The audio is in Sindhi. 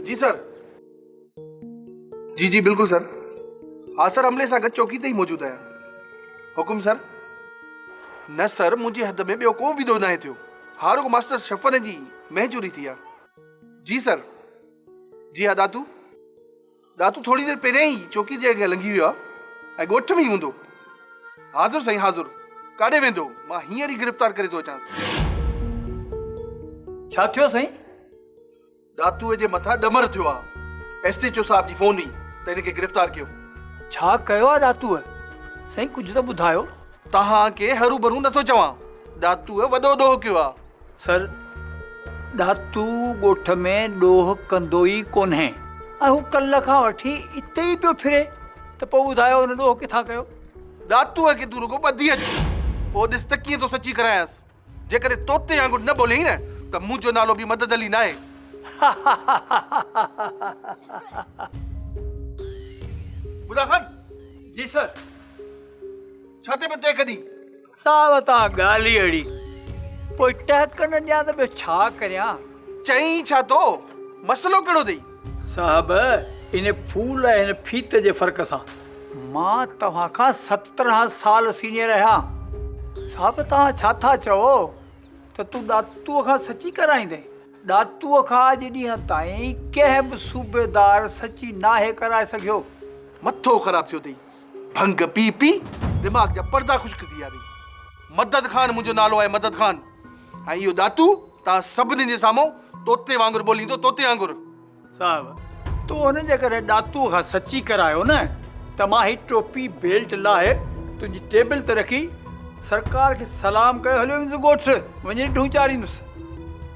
جي سر جي جي بلڪل سر ها سر عملي سان گڏ چوڪي تي ئي موجود آهيان حڪم سر نه سر منهنجي حد ۾ ٻيو ڪو به ڏوهه ناهي ٿيو ها رڳو ماستر شفن جي مهجوري ٿي آهي جي سر جي ادا تون ڏاتو ٿوري دير پهريائين ئي چوڪيء جي اڳيان لنگهي ويو آهي ۽ ڳوٺ ۾ ئي هوندو. حاضر سائين حاضر. ڪاڏي ويندو؟ مان هينئر ئي گرفتار ڪري ٿو اچانس. ڇا ٿيو سائين؟ ڏاتوء جي مٿان ڏمر ٿيو آهي. ايس ايڇ او صاحب جي فون هئي ته هن کي گرفتار ڪيو. ڇا ڪيو آهي ڏاتوء؟ سائين ڪجهه ته ٻڌايو. توهان کي هروڀرو نٿو چوان. ڏاتوء وڏو ڏوهه ڪيو آهي. سر ڏاتو ڳوٺ ۾ ڏوهه ڪندو ئي ڪونهي. اهو ڪلهه کان وٺي اتي ئي پيو ڦري ته پوء ٻڌايو هن ڏوهه ڪٿان ڪيو؟ ڏاتوء کي تون رڳو ٻڌي اچ، پوء ڏس ته ڪيئن ٿو سچي ڪرايانس. جيڪڏهن طوطي وانگر نه ٻوليئي نه ته منهنجو نالو به مدد علي ناهي. بدا خان! جي سر! ڇا ٿي پيو تنهن ڪڍي؟ صاحب ته آ ڳالهه ئي اهڙي. پوء ٽهڪ نه ڏيان ته ٻيو ڇا ڪريان؟ چئين ڇا ٿو؟ مسئلو ڪهڙو اٿئي؟ صاحب ان ڦول ۽ هن ڦيت جي فرق سان مان توهان کان سترهن سال سينيئر آهيان. صاحب توهان ڇا ٿا چئو ته تون ڏاتوء کان سچي ڪرائيندين؟ ڏاتوء کان اڄ ڏينهن تائين ڪنهن به صوبيدار سچي ناهي ڪرائي سگهيو. مٿو خراب ٿيو اٿئي. ڀنگ پي پي دماغ جا پردا خشڪ ٿي ويا اٿئي. مدد خان منهنجو نالو آهي مدد خان ۽ اهو ڏاتو توهان سڀني جي سامهون طوطي وانگر ٻوليندو طوطي وانگر. صاحب تو ان جي ڪري ڏاتو کان سچي ڪرايو نه ته مان هي ٽوپي بيلٽ لاهي تنهنجي ٽيبل تي رکي سرڪار کي سلام ڪيو هليو ويندس ڳوٺ وڃي ڊهون چاريندس.